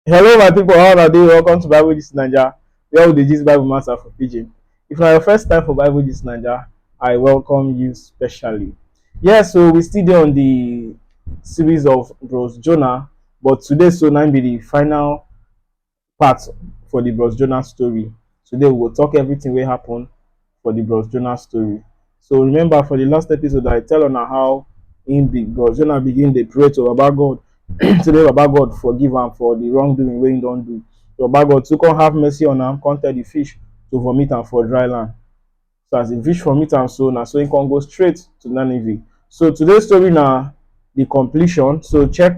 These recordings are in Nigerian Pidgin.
Hello, my people. How are you? Welcome to Bible Gist Nigeria, where we dey gist Bible matter for pidgin. If na your first time for Bible Gist Nigeria, I welcome you specially. Yes, so we still dey on the series of Bros Jonah, but today so na im be the final part for the Bros Jonah story. Today we go talk everything wey happen for the Bros Jonah story. So remember for the last episode I tell on how in big Bros Jonah begin the pray to Baba God to the Baba God forgive him for the wrongdoing wey he don do. So Baba God to come have mercy on him, come tell the fish to vomit am for dry land. So as the fish vomit am so na so he come go straight to Nineveh. So today's story na the completion. So check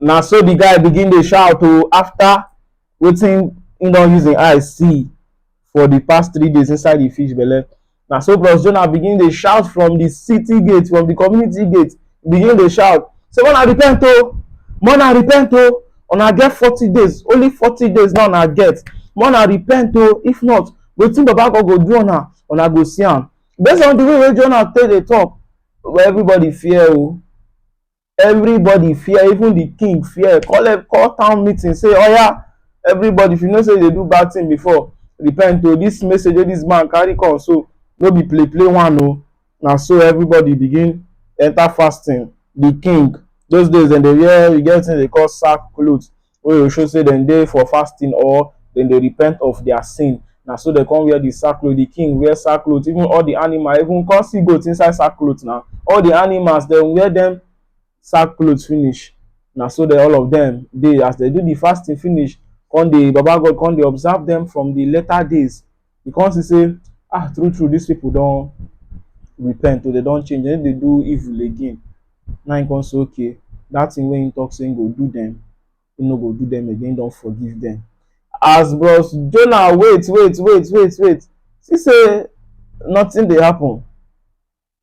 na so the guy begin dey shout o after wetin he don use him eye see for the past three days inside the fish belle na so bros jonah begin dey shout from the city gate from the community gate begin dey shout say mona repent o mona repent o una get forty days only forty days now una get mona repent o if not wetin baba god go do una una go see am based on the way wey jonah take dey talk everybody fear o everybody fear even the king fear call e- call town meeting say oya everybody if you know say you dey do bad thing before repent o this message wey this man carry come so no be play play one o na so everybody begin enter fasting the king those days dem dey wear e get wetin dem dey call sack cloth wey go show say dem dey for fasting or dem dey repent of their sin. Na so dem come wear the sackcloth, the king wear sackcloth, even all the animal, even come see goat inside sackcloth na. All the animals dem wear dem sackcloth finish. Na so dem all of dem dey as dem do the fasting finish, come dey Baba God come dey observe dem from the later days. you come see say ah true true these people don repent o, they don change, they no dey do evil again. Na him come say okay, that thing wey he talk say he go do them, he no go do them again, he don forgive them. As bros Jonah wait wait wait wait wait see say nothing dey happen.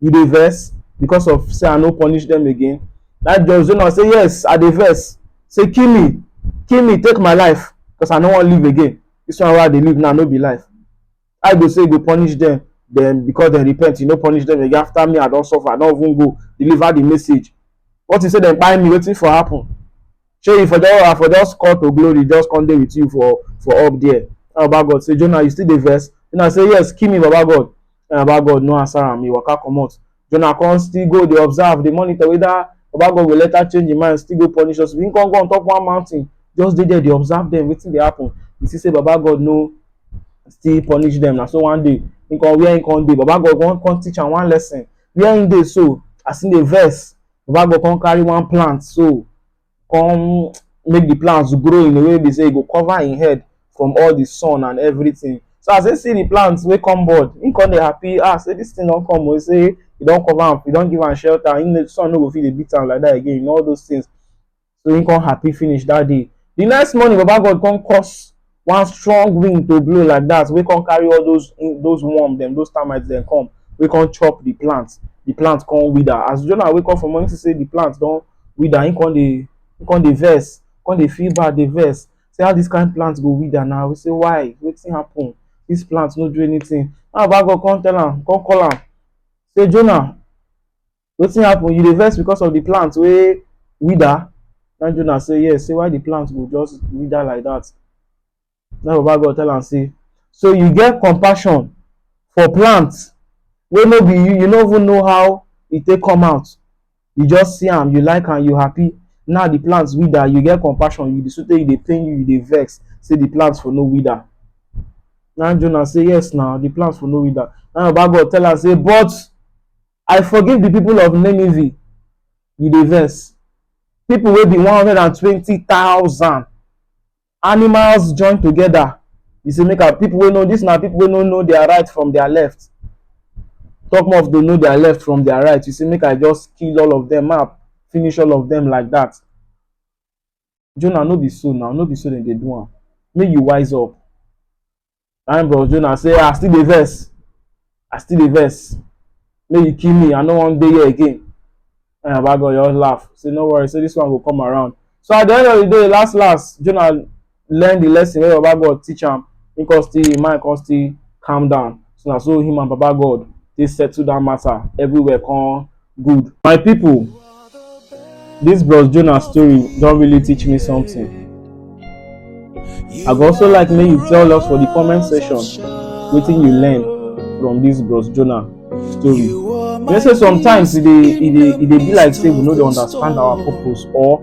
you dey vex because of say i no punish them again that judge don know say yes i dey vex say kill me kill me take my life because i no wan live again this one wey i dey live now no be life i go say you go punish them then because dem repent you no punish them again after me i don suffer i don even go deliver the message what you say dem kpai me wetin for happen shey you for just i for just call to glory just come dey with you for for up there and baba god say jonah you still dey vex jonah say yes kill me baba god and baba god no answer am he waka comot jonah come still go dey observe dey monitor whether baba god go later change him mind still go punish us him come go on top one mountain just dey there dey observe them wetin dey happen he see say baba god no still punish them na so one day him come where him come dey baba god come come teach am one lesson where him dey so as him dey vex baba go come carry one plant so come make the plants grow in a way be say e go cover im head from all the sun and everything so as he see the plants wey come board he come dey happy ah say this thing don come o say e don cover am e don give am shelter im sun no go fit dey beat am like that again all those things So he come happy finish that day. The next morning, Baba God come cause one strong wind to blow like that. We come carry all those those worm them, those termites them come. We come chop the plant. The plant come wither. As Jonah wake up from morning to say the plant don't wither, he come the he come the verse, come the feel bad the verse. Say how this kind of plant go wither now. We say why? Wetin happen? This plant no do anything. Now Baba God come tell am, come call am. Say Jonah, wetin happen you dey vex because of the plant wey wither na jonah say yes say why the plant go just wither like that na baba god tell am say so you get compassion for plant wey no be you you no even know how e take come out you just see am you like am you happy now the plant wither you get compassion you dey so tey e dey pain you you dey vex say the plant for no wither na jonah say yes na the plant for no wither na baba god tell am say but I forgive the people of Nineveh. You dey vex. People wey be one hundred and twenty thousand animals join together. You say make I people wey know this na people wey no know their right from their left. Talk more of to know their left from their right. You say make I just kill all of them, make I finish all of them like that. Jonah no be so now, no be so dem dey do am. Make you wise up. Na im bros Jonah say, I still dey vex, I still dey vex. Make you kill me, I no wan dey here again. And Baba God just laugh, say no worry, say this one go come around. So at the end of the day, last last, Jonah learn the lesson wey Baba God teach am. He come still, him mind come still calm down. So na so him and Baba God take settle that matter. Everywhere come good. My people, this Bros Jonah story don really teach me something. I go also like make you tell us for the comment section wetin you learn from this Bros Jonah story. You know say sometimes e dey e dey e dey be like say we no dey understand our purpose or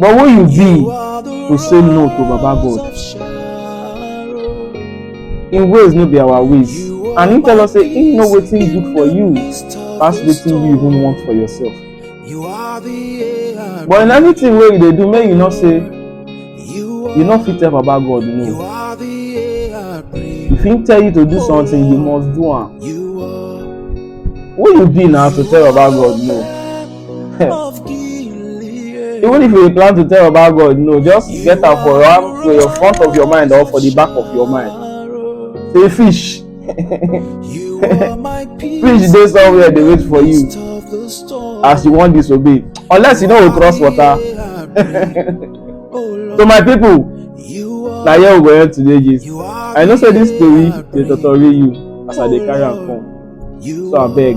But who you be to say no to Baba God? Him ways no be our ways. And him tell us say him know wetin good for you pass wetin you even want for yourself. But in everything wey you dey do, make you know say you no fit tell Baba God no. If him tell you to do something, you must do am. Who you be now to tell Baba God no? Even if you plan to tell about God, no, just get am for your, for your front of your mind or for the back of your mind. Say fish. fish dey somewhere dey wait for you as you wan disobey unless you no go cross water. so my people na here we go end today gist i know say this story dey totori you as i dey carry am come so abeg